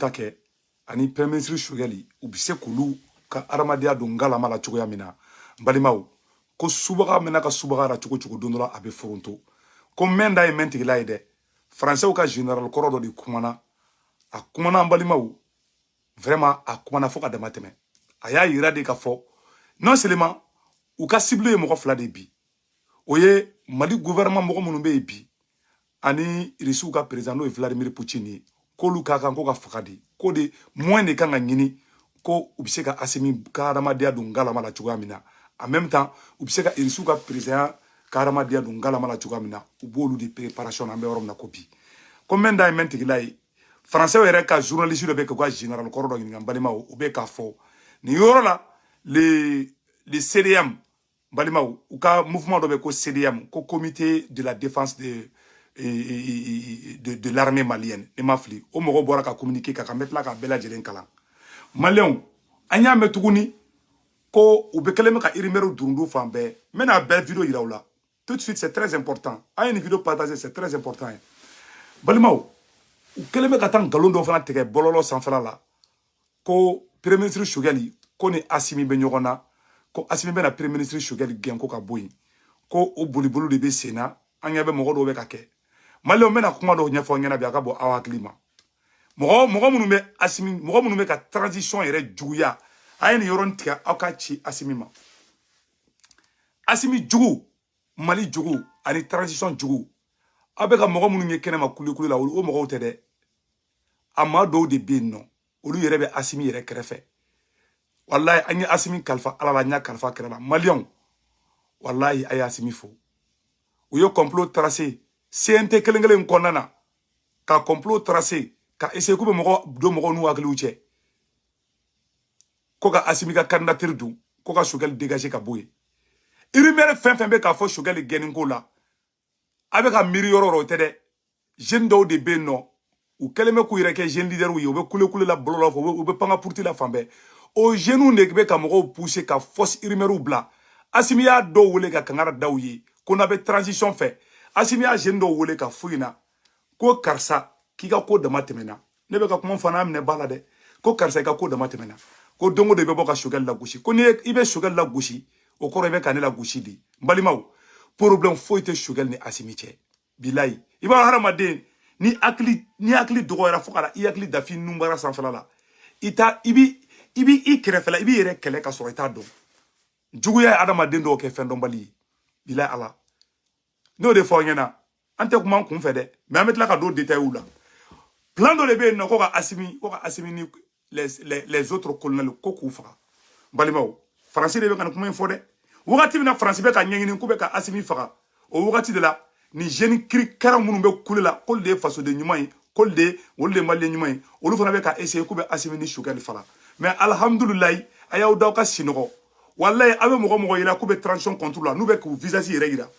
ta kɛ ani premier ministre sogɛli u bɛ se k'olu ka adamadenya don ngalama la cogoya min na n balimaw ko subaga mɛna ka subaga ra cogo cogo don dɔ la a bɛ foronto ko mɛn da ye mɛn tigila ye dɛ faransɛw ka general kɔrɔ dɔ de kumana a kumana an balimaw vraiment a kumana fo ka dama tɛmɛ a y'a yira de ka fɔ non seulement u ka cible ye mɔgɔ fila de bi o ye mali gouvernement mɔgɔ minnu bɛ yen bi ani risiw ka président n'o ye vladimir poutine ye k'olu ka kan ko ka faga de ko de moyen de kan ka ɲini ko u bɛ se ka asimi ka hadamadenya don ngalama la cogoya min na en même temps u bɛ se ka risiw ka président ka hadamadenya don ngalama la cogoya min na u b'olu de préparation na an bɛ yɔrɔ min na ko bi ko mɛn da ye mɛn tigila ye français yɛrɛ ka journaliste dɔ bɛ k'u ka général kɔrɔ dɔ ɲininka n balimaw u bɛ k'a fɔ nin yɔrɔ la le le cdm balimaw u ka mouvement dɔ bɛ ko CDM ko comité de la défense de de, de l'armée malienne ne ma fili o mɔgɔ bɔra ka communiqué kɛ n bɛ tila k'a bɛɛ lajɛlen kalan maliyɛnw an y'a mɛn tuguni ko u bɛ kɛlen bɛ ka irimɛriw durundu fan bɛɛ n bɛna a bɛɛ video yira aw la tout de suite c'est très important a ye nin video partager c'est très important n balimaw u kɛlen bɛ ka taa nkalon dɔ fana tigɛ bɔlɔlɔ sanfɛla la ko premier ministre sogɛli ko ni asimi bɛ ɲɔgɔn na ko asimi bɛna premier ministre sogɛli gɛn ko ka bɔ yen ko o boliboli de bɛ sen na an ɲɛ bɛ mɔgɔ dɔw bɛ ka kɛ maliyɛnw n bɛna kuma dɔw ɲɛfɔ ɲɛna bi a ka bɔ aw hakili ma mɔgɔ mɔgɔ minnu bɛ asimi mɔgɔ minnu bɛ ka transition yɛrɛ juguya a ye nin yɔrɔnin tigɛ aw k'a ci asimi ma asimi jugu mali jugu ani transition jugu aw bɛ ka mɔgɔ minnu ye kɛnɛma kulekule la o mɔgɔw tɛ dɛ a maa dɔw de bɛ yen nɔ olu yɛrɛ bɛ asimi yɛrɛ kɛrɛfɛ walayi an ye asimi kalifa ala la an y'a kalifa kira la maliyɛnw walayi a ye asimi fo u ye complot tracer cnt kelen kelen kɔnɔna na ka complot tracer ka essayer k'u bɛ mɔgɔ don mɔgɔw n'u hakiliw cɛ ko ka asimi ka candidature don ko ka sogɛli dégager ka bɔ yen irimɛri fɛn fɛn bɛ ka fɔ sogɛli gɛnni ko la a bɛ ka miiri yɔrɔ yɔrɔ o tɛ dɛ jeune dɔw de bɛ yen nɔ u kɛlen bɛ k'u yɛrɛ kɛ jeune leader ye u bɛ kule kule la bɔlɔlɔ fɛ u bɛ pan ka puruti la fan bɛɛ o jeunes de bɛ ka mɔgɔw pousser ka fausses irimɛriw bila asimi y'a dɔw wele ka kankari da u ye ko n'a bɛ transition fɛ asimi y'a jeune dɔw wele k'a f'u ɲɛna ko karisa k'i ka ko dama tɛmɛna ne bɛ ka kuma fɔ n'a minɛ ba la dɛ ko karisa i ka ko dama tɛmɛna ko don o don i bɛ bɔ ka sogɛli lagosi ko ni i bɛ sogɛli lagosi o kɔrɔ i bɛ ka ne lagosi de n balimaw problème foyi tɛ sogɛli ni asimi cɛ bilayi i b'a hadamaden ni hakili n'i hakili dɔgɔyara fo ka i hakili dafi nunbara sanfɛla la i t'a i bi i bi i kɛrɛfɛla i b'i yɛrɛ kɛlɛ ka sɔrɔ i t'a dɔn juguya ye adamaden dɔw kɛ fɛn dɔnbali ye bilayi ala n'o de fɔ aw ɲɛna an tɛ kuma an kun fɛ dɛ mɛ an bɛ tila ka don detayiw la plan dɔ de bɛ yen nɔ ko ka asimi ko ka asimi ni les, les, les autres colonels ko k'u faga balimaw faransi de bɛ ka nin kuma in fɔ dɛ wagati min na faransi bɛ ka ɲɛɲini k'u bɛ ka asimi faga o wagati de la nin jeune kirikara minnu bɛ kule la k'olu de ye fasoden ɲuman ye k'olu de ye olu de ye maliden ɲuman ye olu fana bɛ ka essayer k'u bɛ asimi ni sogɛli faga mɛ alihamudulilayi a y'aw da ka sinɔgɔ walayi aw bɛ mɔgɔ mɔgɔ yira k'u bɛ transition contre la n'u bɛ k'u visage yɛrɛ yira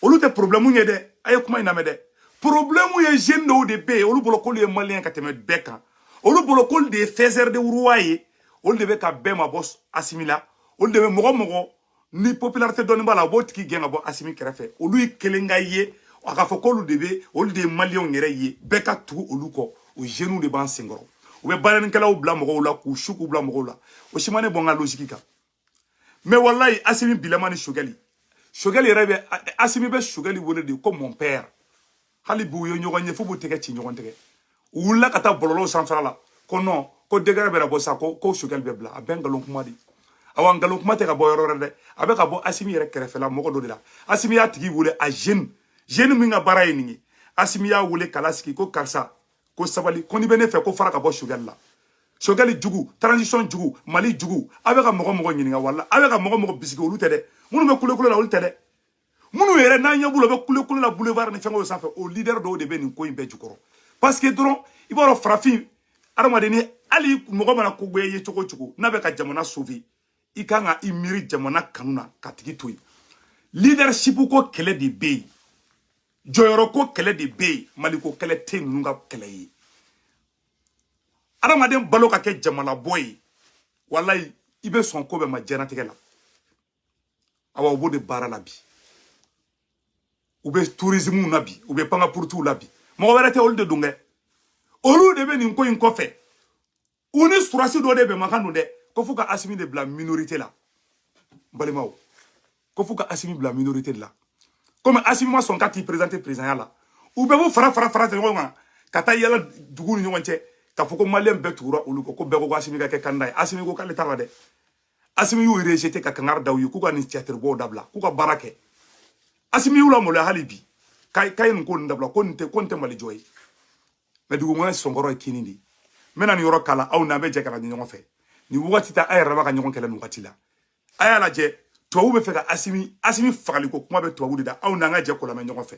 olu tɛ problème ye dɛ a ye kuma in lamɛn dɛ problème ye jeune dɔw de bɛ yen olu bolo k'olu ye maliyɛn ka tɛmɛ bɛɛ kan olu bolo k'olu de ye faiseur de roi ye olu de bɛ ka bɛɛ mabɔ asimi la olu de bɛ mɔgɔ mɔgɔ ni popularité dɔɔni b'a la u b'o tigi gɛn ka bɔ asimi kɛrɛfɛ olu ye kelen ka ye a k'a fɔ k'olu de bɛ olu de ye maliyɛnw yɛrɛ ye bɛɛ ka tugu olu kɔ o jeunes de b'an senkɔrɔ u bɛ banɛnikɛlaw bila mɔgɔw la k'u su k'u bila mɔgɔw la o si ma ne bɔ n ka logique kan mais walayi asimi bilama ni sogɛli sogɛli yɛrɛ bɛ asimi bɛ sogɛli wele de ko mon père hali bi u ye ɲɔgɔn ye fo u b'u tɛgɛ ci ɲɔgɔn tɛgɛ u wulila ka taa bɔlɔlɔw sanfɛla la ko non ko décret bɛna bɔ sa ko ko sogɛli bɛ bila a bɛɛ nkalon kuma de awa nkalon kuma tɛ ka bɔ yɔrɔ wɛrɛ dɛ a bɛ ka bɔ asimi yɛrɛ kɛrɛfɛla mɔgɔ dɔ de la asimi y'a tigi wele a jeune jeune min ka baara ye nin ye asimi y'a wele k'a lasigi ko karisa ko sabali ko n'i bɛ ne fɛ ko fara ka bɔ sogɛli la sogɛli jugu transition jugu mali jugu aw bɛ ka mɔgɔ mɔgɔ ɲininka wala aw bɛ ka mɔgɔ mɔgɔ bisigi olu tɛ dɛ minnu bɛ kulekule la olu tɛ dɛ minnu yɛrɛ n'an ɲɛ b'u la u bɛ kulekule la boulevard ni fɛngɛw sanfɛ o leader dɔw de bɛ nin ko in bɛɛ jukɔrɔ parce que dɔrɔn i b'a dɔn farafin adamaden ni hali mɔgɔ mana ko goya i ye cogo cogo n'a bɛ ka jamana sauver i kan ka i miiri jamana kanu na k'a tigi to yen leadership ko kɛlɛ de bɛ yen jɔyɔrɔ ko kɛlɛ de bɛ yen maliko kɛlɛ tɛ ninnu ka kɛlɛ ye adamaden balo ka kɛ jamalabɔ ye walayi i bɛ sɔn ko bɛɛ ma diɲɛnatigɛ la awa u b'o de baara la bi u bɛ tourisme na bi u bɛ pankapurutuw la bi mɔgɔ wɛrɛ tɛ olu de don kɛ olu de bɛ nin ko in kɔfɛ u ni surasi dɔ de bɛnmakan don dɛ ko f'u ka asimi de bila minorite la balimaw ko f'u ka asimi bila minorite de la komi asimi ma sɔn ka t'i présenter présidenya la u bɛɛ b'u fara fara fara de ɲɔgɔn kan ka taa yala duguw ni ɲɔgɔn cɛ k'a fɔ ko maliyɛn bɛɛ tugura olu kɔ ko bɛɛ ko ko asimi ka kɛ kanda ye asimi ko k'ale t'a la dɛ asimi y'u rejete ka kangari da u ye k'u ka nin tiyatiribɔw dabila k'u ka baara kɛ asimi y'u lamaloya hali bi k'a ye nin ko nin dabila ko nin tɛ ko nin tɛ mali jɔ ye mɛ dugumɛnɛ sɔnkɔrɔ ye kinni de ye n bɛna nin yɔrɔ k'a la aw n'an bɛ jɛ k'a lajɛ ɲɔgɔn fɛ nin wagati t'a yɛrɛdama ka ɲɔgɔn kɛlɛ nin wagati la a y'a lajɛ tubabu bɛ fɛ ka asimi asimi fagaliko kuma bɛ tubabu de da aw n'an ka jɛ k'o lamɛn ɲɔgɔn fɛ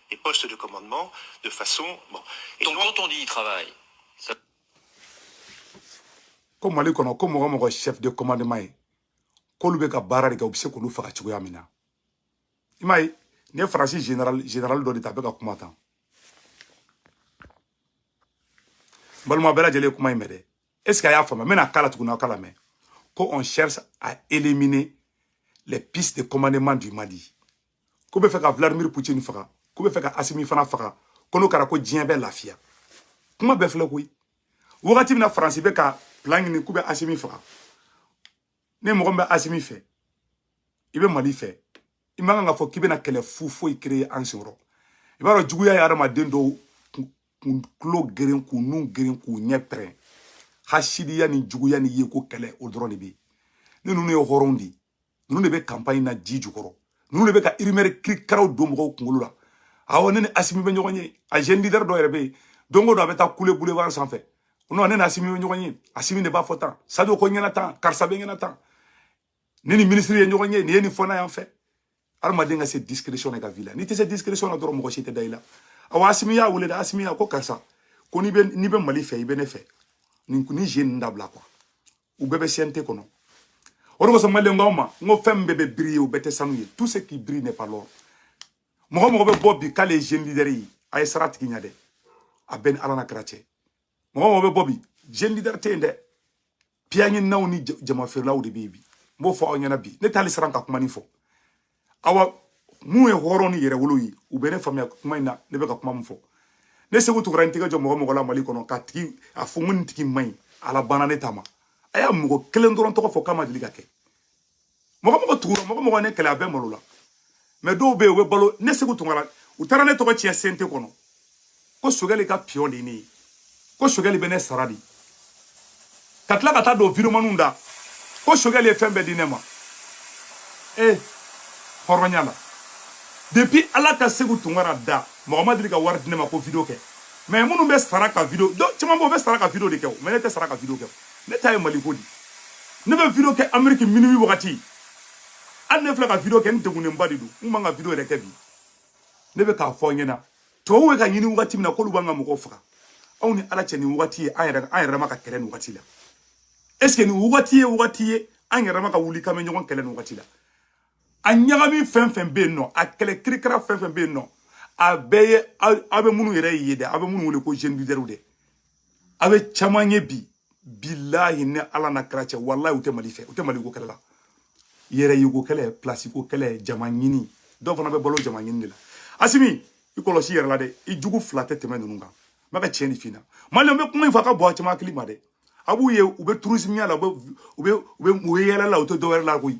les postes de commandement de façon... Bon. Et donc, quand on dit travail, ça... ko mali kɔnɔ ko mɔgɔ mɔgɔ chef de commandement ye k'olu bɛ ka baara de kɛ u bɛ se k'olu faga cogoya min na i m'a ye ne faransi général dɔ de ta a bɛ ka kuma tan n balima bɛɛ lajɛlen ye kuma in mɛn dɛ est ce que a y'a faamuya n bɛna k'a la tuguni aw k'a lamɛn ko on cherche à éliminer les pistes de commandement du mali k'u b'a fɛ ka vladimir putin faga k'u b'a fɛ ka asimi fana faga ko n'o kɛra ko diɲɛ bɛ lafiya kuma bɛɛ filɛ koyi wagati min na faransi bɛ ka plan ɲini k'u bɛ asimi faga ne mɔgɔ min bɛ asimi fɛ i bɛ mali fɛ i man kan ka fɔ k'i bɛna kɛlɛ fu foyi créer an senkɔrɔ i b'a dɔn juguya ye adamaden dɔw tulo geren k'u nun geren k'u ɲɛ pɛrɛn hasidiya ni juguya ni yeko kɛlɛ o dɔrɔn de bɛ yen ne ninnu ye hɔrɔnw de ye ninnu de bɛ campagne na ji jukɔrɔ ninnu de bɛ ka rumeur kirikaraw don mɔgɔw kunkolo la awɔ ne ni asimi bɛ ɲɔgɔn ye a jeune leader dɔ yɛrɛ bɛ yen don o don a bɛ taa kule boulevard sanfɛ non ne ni asimi bɛ ɲɔgɔn ye asimi de b'a fɔ tan sadio ko n ɲɛna tan karisa bɛ ɲɛna tan ne ni minisiri ye ɲɔgɔn ye nin ye nin fɔ n'a yan fɛ hadamaden ka se discrétion na i ka vie la n'i tɛ se discrétion na dɔrɔn mɔgɔ si tɛ da i la awa asimi y'a wele dɛ asimi y'a ko karisa ko n'i bɛ n'i bɛ mali fɛ i bɛ ne fɛ nin ni jeu ninnu dabila quoi u bɛɛ bɛ cnt kɔnɔ o de kosɔn maliyɛn n k'aw ma n ko fɛn min bɛɛ bɛ briller u bɛɛ tɛ sanu ye tout ce qui brille n'est pas l'or mɔgɔ mɔgɔ bɛ bɔ bi k'ale ye jeune leader ye a ye siran a tigi ɲɛ dɛ a b'e ni ala n'a kira cɛ mɔgɔ mɔgɔ bɛ bɔ bi jeune leader tɛ yen dɛ piya ɲininaw ni jama feerelaw de bɛ yen bi n b'o fɔ aw ɲɛna bi ne tɛ hali siran ka kuma nin fɔ awa min ye hɔrɔn ni yɛrɛwolo ye u bɛ ne faamuya kuma in na ne bɛ ka kuma min fɔ ne seku tunkara n tɛgɛ jɔ mɔgɔ mɔgɔ la mali kɔnɔ k'a tigi a fɔ n ko nin tigi man ɲi ala banna ne ta ma a ye mɔgɔ kelen dɔrɔn tɔgɔ fɔ k'a ma deli ka kɛ mɔgɔ mɔgɔ tugura mɔgɔ mɔgɔ ne kɛlɛ a bɛɛ malola mais dɔw bɛ yen u bɛ balo ne seku tunkara u taara ne tɔgɔ tiɲɛ cnt kɔnɔ ko choguel ka pion de ye ne ye ko choguel bɛ ne sara de ka tila ka taa don videomaniw da ko choguel ye fɛn bɛɛ di ne ma ee hɔrɔnya la depuis ala ka seku tunkara da mɔgɔ ma deli ka wari di ne ma ko video kɛ mais minnu bɛ sara ka video caman bɔ o bɛ sara ka video de kɛ o mais ne tɛ sara ka video kɛ ne ta ye mali ko di ne bɛ video kɛ ameriki minuit wagati hali ne filɛ ka video kɛ n degunnenba de don n man kan ka video yɛrɛ kɛ bi ne bɛ k'a fɔ aw ɲɛna tubabuw bɛ k'a ɲini wagati min na k'olu b'an ka mɔgɔw faga aw ni ala cɛ nin wagati ye an yɛrɛ an yɛrɛma ka kɛlɛ nin wagati la est ce que nin wagati ye wagati ye an yɛrɛma ka wuli k'an bɛ ɲɔgɔn kɛlɛ nin wagati la a ɲagami fɛn fɛn bɛ yen nɔ a kɛlɛ kirikara fɛn fɛn bɛ yen nɔ a bɛɛ ye aw bɛ minnu yɛrɛ ye dɛ aw bɛ minnu wele ko jeune leader de aw bɛ caman ye bi bilahi ni ala n'a kira cɛ walayi u tɛ mali fɛ u tɛ mali ko kɛlɛ la yɛrɛ yeko kɛlɛ plasi ko kɛlɛ jama ɲini dɔw fana bɛ balo jama ɲini de la asimi i kɔlɔsi i yɛrɛ la dɛ i jugu fila tɛ tɛmɛ ninnu kan n bɛ ka tiɲɛ de f'i ɲɛna mali bɛ kuma in fɔ a ka bɔ a caman hakili ma dɛ a b'u ye u bɛ turisimiya la u bɛ u bɛ u bɛ yaala la u tɛ dɔwɛrɛ la koyi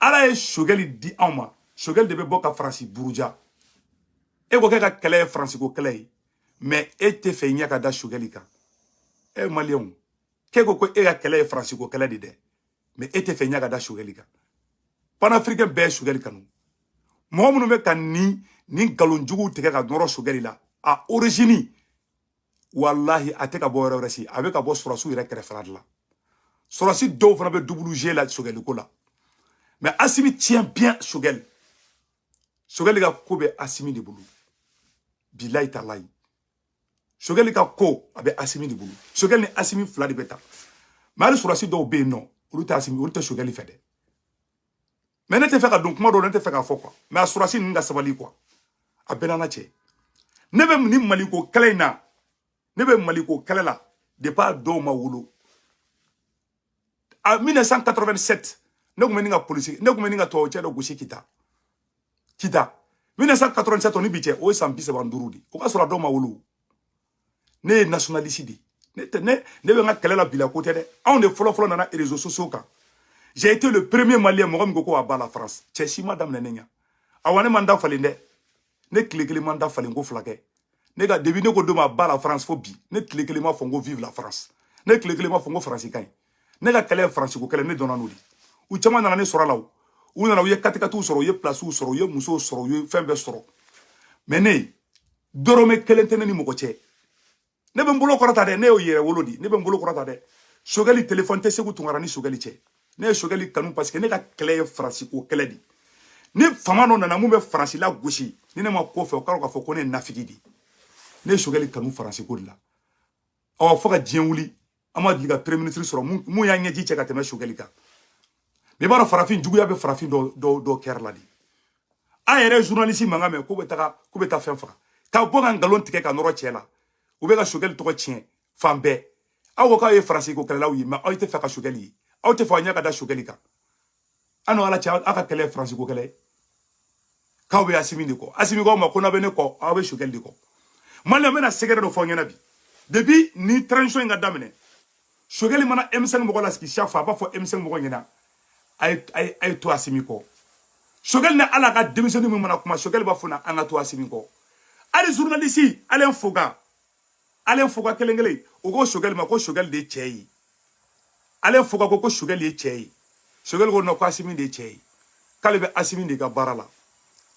ala ye sogɛli di anw ma sogɛli de bɛ bɔ ka faransi buruja e ko k'e ka kɛlɛ ye faransi ko kɛlɛ ye mɛ e tɛ fɛ i ɲɛ ka da sogɛli kan e maliyɛnw k'e ko ko e ka kɛlɛ ye faransi ko kɛlɛ de dɛ mɛ e tɛ fɛ i ɲɛ ka da sogɛli kan panafirikɛn bɛɛ ye sogɛli kanu mɔgɔ minnu bɛ ka nin nin nkalon juguw tigɛ ka nɔrɔ sogɛli la a origine walahi a tɛ ka bɔ yɔrɔ wɛrɛ si a bɛ ka bɔ sɔrɔdasiw yɛrɛ kɛrɛfɛla de la sɔrɔdasi dɔw fana bɛ double jeu la sogɛliko la mɛ asimi tiens bien sogɛli sogɛli ka ko bɛ asimi de bolo bilayi talayi sogɛli ka ko a bɛ asimi de bolo sogɛli ni asimi fila de bɛ taa mɛ hali sɔrɔdasi dɔw bɛ yen nɔ olu tɛ asimi olu tɛ sogɛli fɛ dɛ mɛ ne tɛ fɛ ka don kuma dɔ ne tɛ fɛ k'a fɔ kuwa mɛ a sɔrɔdasi ninnu ka sabali kuwa a bɛɛ n'ala cɛ ne bɛ ni maliko kɛlɛ in na ne bɛ maliko kɛlɛ la depuis a dɔw ma wolo en 1987 ne tun bɛ ɲini ka polisi ne tun bɛ ɲini ka tubabu cɛ dɔ gosi kita kita 1987 ni bi cɛ o ye san bi saba ni duuru de o ka sɔrɔ a dɔw ma wolo ne ye nationaliste de ne tɛ ne ne bɛ n ka kɛlɛ la bi la ko tɛ dɛ anw de fɔlɔ fɔlɔ nana réseaux sociaux kan j'ai été le premier malien mɔgɔ min ko ko à bas la France cɛ si m'a daminɛ ne ɲɛ awa ne ma n da falen dɛ ne tile kelen ma n da falen ko fila kɛ ne ka début ne ko don min à bas la France fo bi ne tile kelen m'a fɔ n ko vive la France ne tile kelen m'a fɔ n ko faransi ka ɲi ne ka kɛlɛ ye faransi ko kɛlɛ ne dɔnna n'o de u caman nana ne sɔrɔ a la o u nana u ye katikatiw sɔrɔ u ye pilasiw sɔrɔ u ye musow sɔrɔ u ye fɛn bɛɛ sɔrɔ mɛ ne dɔrɔmɛ kelen tɛ ne ni mɔgɔ cɛ ne bɛ n bolo kɔrɔta dɛ ne ye yɛrɛwolo de ne bɛ n bolo kɔrɔta dɛ sogɛli telefɔni tɛ seku tunkara ni sogɛli cɛ ne ye sogɛli kanu parce que ne ka kɛlɛ ye faransi ko kɛlɛ de ni fama dɔ nana mun bɛ faransi lagosi ni ne ma k'o fɛ o k'a dɔn k'a fɔ ko ne ye nafigi de ye ne ye sogɛli kanu faransi ko de la ɔ fo ka diɲɛ wuli an ma deli ka premier ministre sɔrɔ mun y'an ɲɛji cɛ ka tɛmɛ sogɛli kan mɛ i b'a dɔn farafin juguya bɛ farafin dɔ kɛrɛ la de an yɛrɛ journaliste mankan mɛn k'u bɛ taga k'u bɛ taa fɛn faga ka bɔ ka nkalon tigɛ ka nɔrɔ cɛ la u bɛ ka sogɛli tɔgɔ tiɲɛ fan bɛɛ aw ko k'aw ye faransi ko kɛlɛlaw ye mɛ aw tɛ fɛ ka sogɛli ye aw tɛ fɛ aw ɲɛ ka da sogɛli kan aw ni ala cɛ aw ka kɛlɛ ye faransi ko kɛlɛ ye k'aw bɛ asimi de kɔ asimi k'aw ma ko n'aw bɛ ne kɔ aw bɛ sogɛli de kɔ mali la n bɛna secret dɔ fɔ a ɲɛna bi depuis ni transition in ka daminɛ sogɛli mana M5 mɔgɔ lasigi chaque fois a b'a fɔ M5 mɔgɔ ɲɛna a ye to asimi kɔ sogɛli ni ala ka denmisɛnnin min mana kuma sogɛli b'a f'o ɲɛna an ka to asimi kɔ hali journaliste ale foga alain foka kelen kelen o ko sogɛli ma ko sogɛli de ye cɛ ye alain foka ko ko sogɛli ye cɛ ye sogɛli ko non ko asimi de ye cɛ ye k'ale bɛ asimi de ka baara la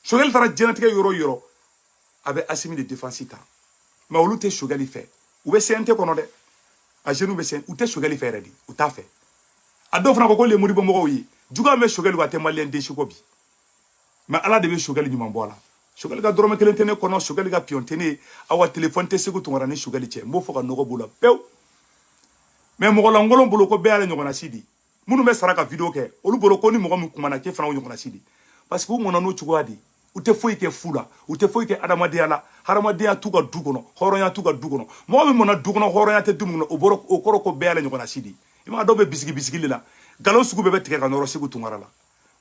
sogɛli taara diɲɛnatigɛ yɔrɔ yɔrɔ a bɛ asimi de defansi ta mɛ olu tɛ sogɛli fɛ u bɛ cnt kɔnɔ dɛ a jɛli bɛ cnt u tɛ sogɛli fɛ yɛrɛ de u t'a fɛ a dɔw fana ko ko lemuribɔmɔgɔw ye juguya bɛ sogɛli wa a tɛ maliyɛn den si kɔ bi mɛ ala de bɛ sogɛli ɲuman bɔ a la sogɛli ka dɔrɔmɛ kelen tɛ ne kɔnɔ sogɛli ka piyɔn tɛ ne ye awa telefɔni tɛ seku tunkara ni sogɛli cɛ n b'o fɔ ka nɔgɔ b'o la pewu mɛ mɔgɔ lankolon bolo ko bɛɛ y'ale ɲɔgɔnna si di minnu bɛ sara ka video kɛ olu bolo ko ni mɔgɔ min kumana k'e fana o ɲɔgɔnna si di parce que u mɔna n'o cogoya de ye u tɛ foyi kɛ fu la u tɛ foyi kɛ adamadenya la hadamadenya t'u ka du kɔnɔ hɔrɔnya t'u ka du kɔnɔ mɔgɔ min mɔna du kɔnɔ hɔrɔnya tɛ du min kɔnɔ o bolo o kɔrɔ ko bɛɛ y'ale ɲɔgɔnna si di i m'a dɔn u bɛ bisigi bisigi de la nkalon sugu bɛɛ bɛ tigɛ ka nɔrɔ seku tunkara la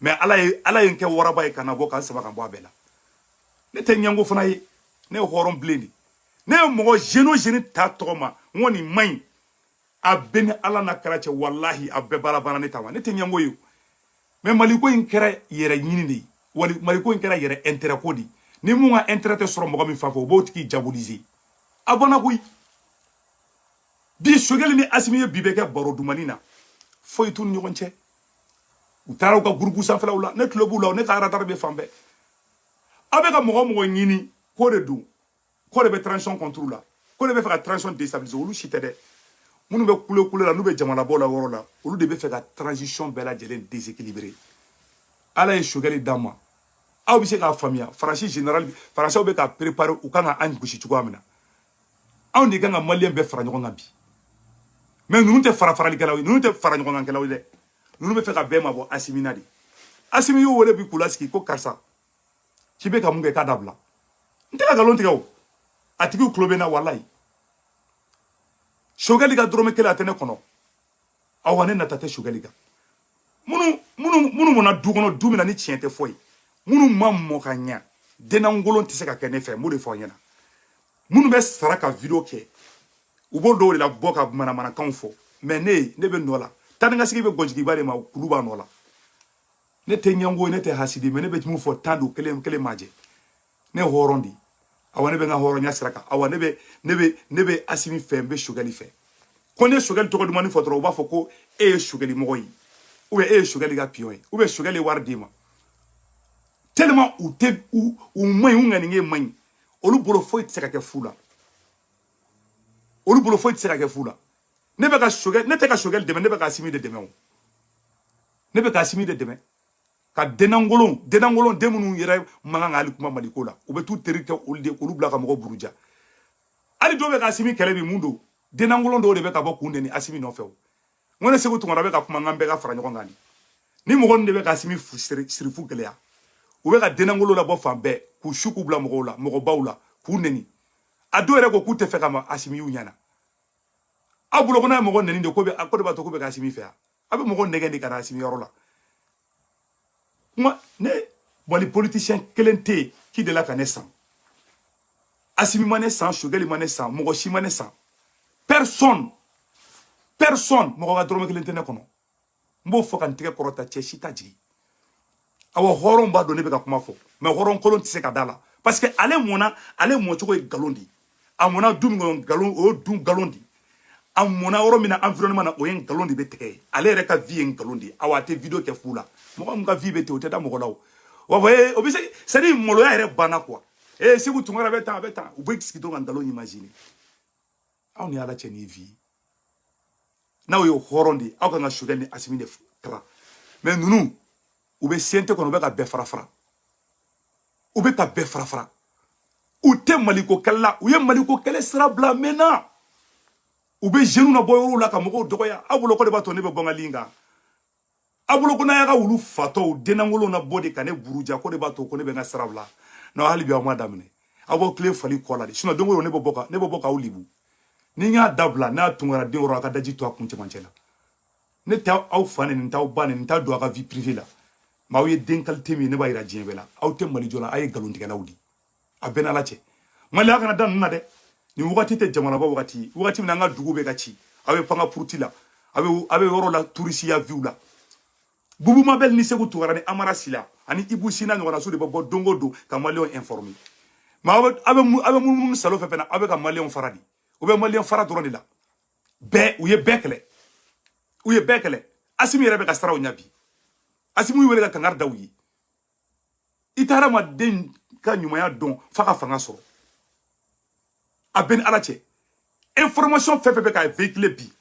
mɛ ala ye ala ye n kɛ waraba ye ka n nabɔ ka n saba ka bɔ a bɛɛ la ne tɛ ɲɛngo fana ye ne ye hɔrɔn bilen de ne ye mɔgɔ jɛli o jɛli ta tɔgɔ ma n ko nin man ɲi a bɛɛ ni ala na kɛra cɛ walahi a bɛɛ baara banna ne ta ma ne tɛ ɲɛngo ye o mɛ maliko in kɛra yɛrɛɲini de ye wali maliko in kɛra yɛrɛ intérêt ko de ye ni mun ka intérêt tɛ sɔrɔ mɔgɔ min fan fɛ o b'o tigi diaboliser a bɔnna koyi bi sogɛli ni asimi ye bi bɛɛ kɛ baro dumani na foyi t'u ni ɲɔgɔn cɛ u taara u ka gurupu sanfɛlaw la ne tulo b'u la ne ka radar bɛ fan bɛɛ aw bɛ ka mɔgɔ mɔgɔ ɲini k'o de don k'o de bɛ transition contre la k'o de bɛ fɛ ka transition déstabiliser olu si tɛ dɛ minnu bɛ kule kule la n'u bɛ jamana bɔ la yɔrɔ la olu de bɛ fɛ ka transition bɛɛ lajɛlen déséquilibrer ala ye sogɛli d'an ma aw bɛ se k'a faamuya faransi général faransiw bɛ ka préparer u kan ka an gosi cogoya min na anw de kan ka maliyɛn bɛɛ fara ɲɔgɔn kan bi mɛ ninnu tɛ fara faralikɛlaw ye ninnu tɛ faraɲɔgɔnkankɛlaw ye dɛ ninnu bɛ fɛ ka bɛɛ mabɔ asimi na de asimi y'u wele bi k'u lasigi ko karisa k'i bɛ ka mun kɛ k'a dabila n tɛ ka nkalon tigɛ o a tigiw tulo bɛ n na walayi sogɛli ka dɔrɔmɛ kelen a tɛ ne kɔnɔ awa ne nata tɛ sogɛli kan minnu minnu minnu mɔna du kɔnɔ du min na ni tiɲɛ tɛ fɔ yen minnu ma mɔ ka ɲa den lankolon tɛ se ka kɛ ne fɛ n b'o de fɔ ɲɛna minnu bɛ sara ka video kɛ u b'o dɔw de labɔ ka manamanakanw fɔ mɛ ne ye ne bɛ n nɔ la taanikasegin bɛ gɔnjigiba de ma kulu b'a nɔ la ne tɛ ɲɛngo ne tɛ hasidi mɛ ne bɛ mun fɔ tan don kelen kelen ma jɛ ne hɔrɔn di awa ne bɛ n ka hɔrɔnya sira kan awa ne bɛ ne bɛ ne bɛ asimi fɛ n bɛ sogɛli fɛ ko n'e sogɛli tɔgɔ dumani fɔ dɔrɔn u b'a fɔ ko e ye sogɛli mɔgɔ ye ou bien e ye sogɛli ka piyɔn ye ou bien sogɛli ye wari d'i ma tellement u tɛ u u man ɲi u ŋaniye man ɲi olu bolo foyi tɛ se ka kɛ fu la olu bolo foyi tɛ se ka kɛ fu la ne bɛ ka sogɛli ne tɛ ka sogɛli dɛmɛ ne bɛ ka asimi de dɛmɛ o ne bɛ ka asimi de dɛmɛ ka denangolon denangolon den minnu yɛrɛ man kan ka hali kuma maliko la u bɛ t'u teri kɛ olu de k'olu bila ka mɔgɔ buruja hali dɔw bɛ ka asimi kɛlɛ bi mun don denangolon dɔw de bɛ ka bɔ k'u nɛni asimi nɔfɛ o n ko ne segu tunkara bɛ ka kuma n kan bɛɛ ka fara ɲɔgɔn kan ni mɔgɔ ninnu de bɛ ka asimi sirifu gɛlɛya u bɛ ka denangolo labɔ fan bɛɛ k'u su k'u bila mɔgɔw la mɔgɔbaw la k'u nɛni a dɔw yɛrɛ ko k'u tɛ fɛ ka ma asimi y'u ɲɛ na aw bolo ko n'a ye mɔgɔ nɛni de k'o de b'a to k'u bɛ ka asimi fɛ yan a bɛ mɔgɔ nɛgɛn de ka na asimi yɔrɔ la moi ne mali politisiyɛn kelen tɛ yen qui delila ka ne san asimi ma ne san sogɛli ma ne san mɔgɔ si ma ne san personne personne mɔgɔ ka dɔrɔmɛ kelen tɛ ne kɔnɔ n b'o fɔ ka n tɛgɛ kɔrɔta cɛ si t'a jigin awa hɔrɔn b'a dɔn ne bɛ ka kuma fɔ mais hɔrɔn kolon tɛ se ka da la parce que ale mɔna ale mɔcogo ye nkalon de ye a mɔna du min kɔnɔ nkalon o ye du nkalon de ye a mɔna yɔrɔ min na environnement na o ye nkalon de bɛ tigɛ yen ale yɛrɛ ka vie ye nkalon de ye awa a tɛ video kɛ fu la mɔgɔ min ka vie bɛ ten o tɛ da mɔgɔ la o wa fɔ ee o bɛ se c'est à dire maloya yɛrɛ banna quoi ee segu tunkara bɛ tan a bɛ tan u bɛ sigi dɔrɔn ka nkalon imaginer aw ni ala cɛ ni vi n'aw ye hɔrɔn de aw kan ka sogɛli ni asimi de kala mais ninnu u bɛ sente kɔnɔ u bɛ ka bɛɛ fara fara u bɛ ka bɛɛ fara fara u tɛ maliko kɛlɛ la u ye maliko kɛlɛ sira bila mɛnna u bɛ jeunew nabɔ yɔrɔw la ka mɔgɔw dɔgɔya aw bolo k'o de b'a to ne bɛ bɔ n ka ligne kan a bolo ko n'a y'a ka wulu fatɔw dennankolow nabɔ de ka ne buruja k'o de b'a to ko ne bɛ n ka sira bila non hali bi aw m'a daminɛ aw b'aw tilen fali kɔ la de sinon don o don ne bɛ bɔ ka ne bɛ bɔ k'aw libu ni n y'a dabila n'a tunkara den yɛrɛ a ka daji tu a kun cɛmancɛ la ne tɛ aw fa nɛni n t'aw ba nɛni n tɛ don a ka vie privée la mais aw ye den qualité min ye ne b'a yira diɲɛ bɛɛ la aw tɛ mali jɔ la aw ye nkalontigɛlaw de ye a bɛɛ n'ala cɛ mali a kana da ninnu na dɛ nin wagati tɛ jamanaba wagati ye wagati min na an ka dugu bɛ ka ci aw bɛ panga puruti la aw bɛ aw bɛ yɔrɔ la turisiya vie la bubu mabɛli ni segu tunkara ni amara sila ani ibu sina ɲɔgɔnna su de bɛ bɔ don o don ka maliyɛnw informer mais aw bɛ munumunu salo fɛ fɛnɛ aw bɛ ka maliyɛnw fara de u bɛ maliyɛn fara dɔrɔn de la bɛɛ u ye bɛɛ kɛlɛ u ye bɛɛ kɛlɛ asimi yɛrɛ bɛ ka siraw ɲa bi asimi y'u wele ka kangari da u ye i tɛ hadamaden ka ɲumanya dɔn f'a ka fanga sɔrɔ a bɛ ni ala cɛ information fɛn fɛn bɛ ka véhiculer bi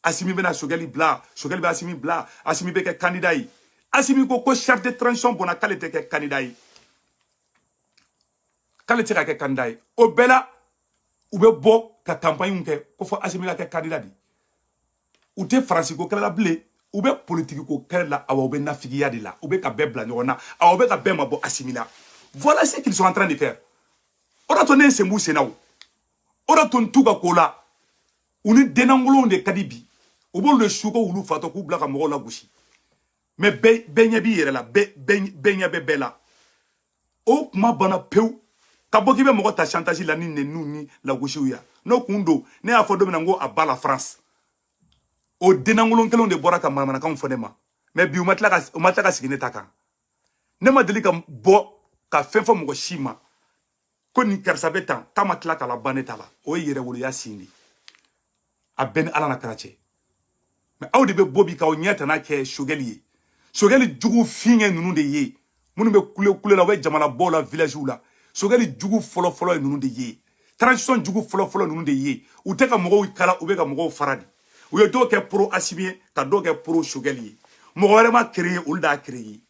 asimi bɛna sogɛli bila sogɛli bɛ asimi bila asimi bɛ kɛ kandida ye asimi ko ko chef de transition bɔnna k'ale tɛ kɛ kandida ye k'ale tɛ se ka kɛ kandida ye o bɛɛ la u bɛ bɔ ka campagne kɛ ko fɔ asimi ka kɛ kandida de ye u tɛ faransiko kɛlɛ la bilen u bɛ politikiko kɛlɛ la awa u bɛ nafigiya de la u bɛ ka bɛɛ bila ɲɔgɔn na awa u bɛ ka bɛɛ mabɔ asimi la voilà ce qu'ils sont en train de faire o d'a to ne ye sen b'u senna o o d'a to n t'u ka ko la u ni denankolonw de ka di bi u b'olu de su ko wulu fatɔ k'u bila ka mɔgɔw lagosi mais bɛɛ ɲɛ b'i yɛrɛ la bɛɛ ɲɛ bɛ bɛɛ la o kuma banna pewu ka bɔ k'i bɛ mɔgɔ ta chantage la ni nɛniw ni lagosiw ya n'o kun don ne y'a fɔ don min na n ko à bas la france o denankolon kelenw de bɔra ka manamanakanw fɔ ne ma mais bi u ma tila ka u ma tila ka sigi ne ta kan ne ma deli ka bɔ ka fɛn fɔ mɔgɔ si ma ko nin karisa bɛ tan k'a ma tila ka laban ne ta la o ye yɛrɛwoloya signe de ye a bɛ n ni ala n'a kira cɛ mais aw de bɛ bɔ bi k'aw ɲɛ tana kɛ sogɛli ye sogɛli jugu fin ye ninnu de ye minnu bɛ kule kule la u bɛ jamana bɔw la villagew la sogɛli jugu fɔlɔfɔlɔ ye ninnu de ye transition jugu fɔlɔfɔlɔ ninnu de ye u tɛ ka mɔgɔw kala u bɛ ka mɔgɔw fara de u ye dɔw kɛ pro asimi ye ka dɔw kɛ pro sogɛli ye mɔgɔ wɛrɛ m'a créer olu d'a créer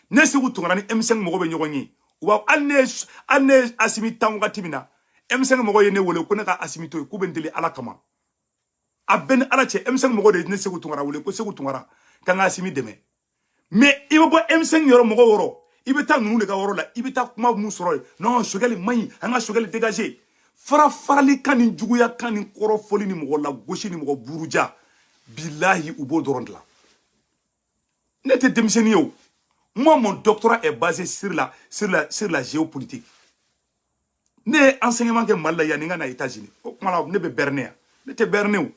ne segu tunkara ni m5 mɔgɔ bɛ ɲɔgɔn ye awa hali ne hali ne asimi tan wagati min na m5 mɔgɔ ye ne wele ko ne ka asimi to yen k'u bɛ n deli ala kama a bɛ n ni ala cɛ m5 mɔgɔ de ye ne segu tunkara wele ko segu tunkara k'an ka asimi dɛmɛ mais i bɛ bɔ m5 yɔrɔ mɔgɔw yɔrɔ i bɛ taa ninnu de ka yɔrɔ la i bɛ taa kuma mun sɔrɔ yen non sogɛli man ɲi an ka sogɛli dégager farafarali kan ni juguya kan ni kɔrɔfɔli ni mɔgɔ lagosi ni mɔgɔ buruja bilahi u b'o dɔrɔn de la ne tɛ denmisɛnnin ye o moi mon doctorat est basé sur la sur la sur la géopolitique ne ye enseignement kɛ mali la yanni n ka na états unis o tuma la ne bɛ berner yan ne tɛ berner o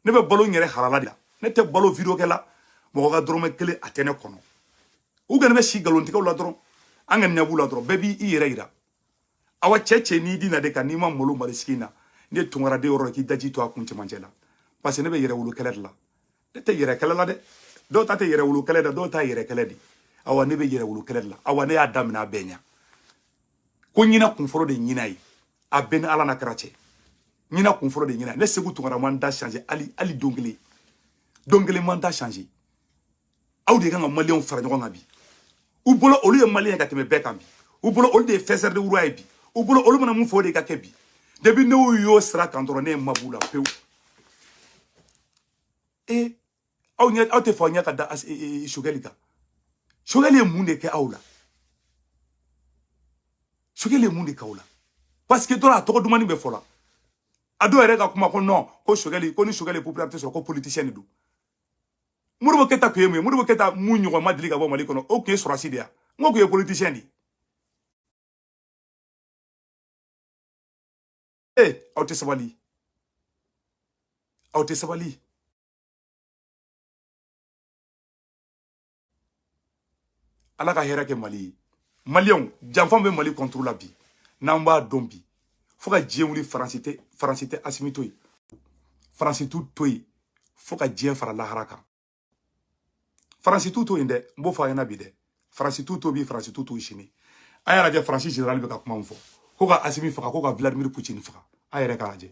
ne bɛ balo n yɛrɛ halala de la ne tɛ balo video kɛ la mɔgɔ ka dɔrɔmɛ kelen a tɛ ne kɔnɔ u kana bɛ si nkalontigɛw la dɔrɔn an ka ɲɛ b'u la dɔrɔn bɛɛ b'i i yɛrɛ yira awa cɛ cɛ n'i dina de kan n'i ma malo mali sigi na ne tunkara de yɔrɔ k'i daji tu a kun cɛmancɛ la parce que ne bɛ yɛrɛwolo kɛlɛ de la ne tɛ yɛrɛ kɛlɛ la dɛ dɔw ta tɛ yɛrɛwolo kɛlɛ dɛ dɔw ta yɛrɛ kɛlɛ de awa ne bɛ yɛrɛwolo kɛlɛ de la awa ne y'a daminɛ a bɛɛ ɲa ko ɲina kunfɔlɔ de ɲina ye a bɛ n ni ala n'a kira cɛ ɲina kunfɔlɔ de ɲina ne segu tunkara ma n da changer hali hali don kelen don kelen ma n da changer aw de kan ka maliyɛnw fara ɲɔgɔn kan bi u bolo olu ye maliyɛn ka tɛmɛ bɛɛ kan bi u bolo olu de ye faiseur de roi ye bi u bolo olu mana mun fɔ o de ka kɛ bi depuis n'u y'o sira kan dɔrɔn ne ye mab'u la pewu e aw ɲɛ aw tɛ fɔ aw ɲɛ ka da sogɛli kan sogɛli ye mun de kɛ aw la sogɛli ye mun de kɛ aw la parce que dɔrɔn a tɔgɔ dumannin bɛ fɔ la a dɔw yɛrɛ ka kuma ko non ko sogɛli ko ni sogɛli popularité sɔrɔ ko politicien de don modibo keyita tun ye mun ye modibo keyita mun ɲɔgɔn ma deli ka bɔ mali kɔnɔ o tun ye sɔrɔsi de ye wa n k'o tun ye politisiyɛn de ye ee aw tɛ sabali aw tɛ sabali ala ka hɛrɛ kɛ mali ye maliyɛnw janfa bɛ mali kɔntoro la bi n'an b'a dɔn bi fo ka diɲɛ wuli faransi tɛ faransi tɛ asimi to yen faransi t'u to yen fo ka diɲɛ fara lahara kan faransi t'u to yen dɛ n b'o fɔ a ɲɛna bi dɛ faransi t'u to bi faransi t'u to sini a y'a lajɛ faransi général bɛ ka kuma min fɔ ko ka asimi faga ko ka vladimir putin faga a yɛrɛ k'a lajɛ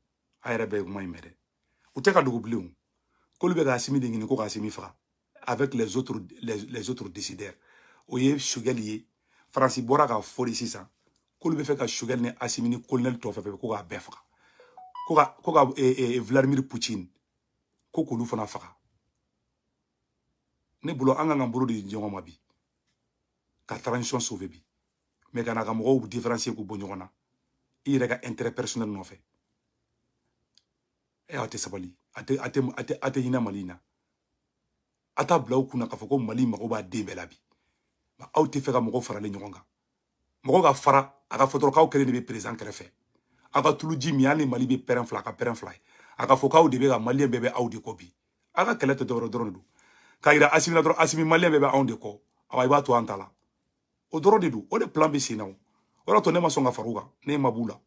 a yɛrɛ bɛɛ ye kuma in mɛn dɛ u tɛ k'a dogo bilen o k'olu bɛ ka asimi de ɲini ko ka asimi faga avec les autres les, les autres décideurs o ye sogɛli ye faransi bɔra k'a fɔ de sisan k'olu b'a fɛ ka sogɛli ni asimi ni kolonɛli tɔ fɛn fɛn ko k'a bɛɛ faga ko ka ko ka e, e, vladimir poutine ko k'olu fana faga ne bolo an ka kan ka bolo di ɲɔgɔn ma bi ka transition sauver bi mais kana ka mɔgɔw différencier k'u bɔ ɲɔgɔn na i yɛrɛ ka intérêt personnel nɔfɛ e aw tɛ sabali a tɛ a tɛ a tɛ a tɛ hinɛ mali in na a t'a bila aw kun na k'a fɔ ko mali mago b'a den bɛɛ la bi aw t'a fɛ ka mɔgɔ faralen ɲɔgɔn kan mɔgɔ ka fara a ka fɔ dɔrɔn k'aw kelen de bɛ perezidan kɛrɛfɛ aw ka tuluji min hali ni mali bɛ pɛrɛn fila ka pɛrɛn fila ye a ka fɔ k'aw de bɛ ka maliyɛn bɛɛ bɛ aw de kɔ bi aw ka kɛlɛ tɛ dɔwɛrɛ dɔrɔn de don k'a yira asimi na dɔrɔn asimi maliyɛn bɛɛ bɛ anw de kɔ awa i b'a to an ta la o dɔrɔn de don o de plan bɛ sen na o o y'a to ne ma sɔn ka far'u kan ne ma b'u la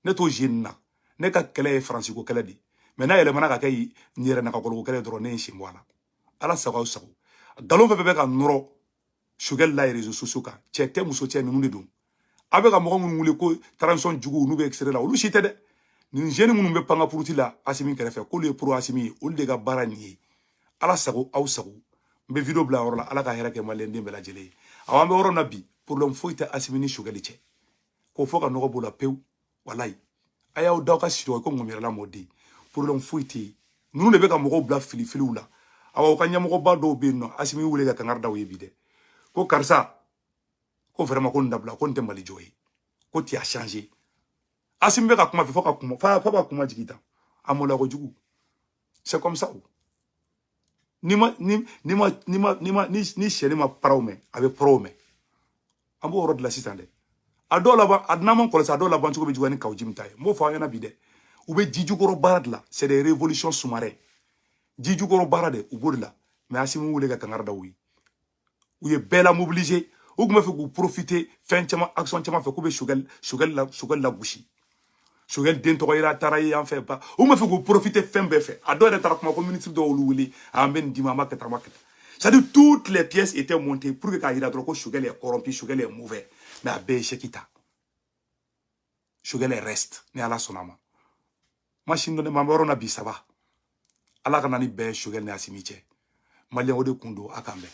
ne t'o jeu nin na ne ka kɛlɛ ye faransi ko kɛlɛ de ye mais n'a yɛlɛmana ka kɛ n yɛrɛ nakɔkɔlɔko kɛlɛ dɔrɔn ne ye n sen bɔ a la ala sago aw sago nkalon fɛn fɛn bɛ ka nɔrɔ sogɛli la réseaux sociaux kan cɛ tɛ muso tɛ ninnu de don aw bɛ ka mɔgɔ minnu wele ko transition juguw n'u bɛ extérieur la olu si tɛ dɛ nin jeunes minnu bɛ pankapuruti la asimi kɛrɛfɛ k'olu ye pro asimi ye olu de ka baara nin ye ala sago aw sago n bɛ video bila yɔrɔ la ala ka hɛrɛ kɛ maliyɛn den bɛɛ lajɛlen ye awa an bɛ yɔrɔ min na bi problème foyi tɛ asimi ni sogɛli cɛ k'o fɔ ka nɔgɔ b'o la pewu walayi a y'aw da aw ka sinɔgɔ ko ŋɔmiyɛrɛla mɔden problème foyi tɛ yen ninnu de bɛ ka mɔgɔw bila filifiliw la awa u ka ɲɛmɔgɔba dɔw bɛ yen nɔ asimi y'u wele ka kangari da u ye bi dɛ ko karisa ko vraiment ko nin dabila ko nin tɛ mali jɔ ye ko tu as changé asimi bɛ ka kuma fɛ fo ka kuma fo ka kuma jigin tan a mɔla kojugu c'est comme ça ni ma ni ni ma ni ma ni ma ni ni syɛnin ma paraw mɛn a bɛ paraw mɛn an b'o yɔrɔ de la sisan dɛ a dɔw laban a n'a m'a kɔlɔsi a dɔw laban cogo bɛ juguya ni kawu jim ta ye n b'o fɔ aw ɲɛna bi dɛ u bɛ ji jukɔrɔ baara de la c'est des révolutions sous-marins ji jukɔrɔ baara de u b'o de la mais asimi y'u wele ka kangari da u ye u ye bɛɛ la mobiliser u tun bɛ fɛ k'u profiter fɛn caman action caman fɛ k'u bɛ Choguel Choguel la Choguel lagosi Choguel den tɔgɔ yɛrɛ taara ye yan fɛ ba u tun bɛ fɛ k'u profiter fɛn bɛɛ fɛ a dɔw yɛrɛ taara kuma ko ministre dɔw y'olu wele a an bɛ nin d'i ma an b'a kɛ tan an b'a kɛ tan c'est à dire toutes les pièces étaient montées pour que k'a jira dɔrɔn ko Choguel est corrompu Choguel est mauvais mais a bɛɛ ye échec ta Choguel reste ni ala sɔnna a ma masini dɔnni ma an bɛ yɔrɔ na bi ça va ala ka na ni bɛn ye Choguel ni Asimi cɛ maliyɛn o de kun don a k'an bɛn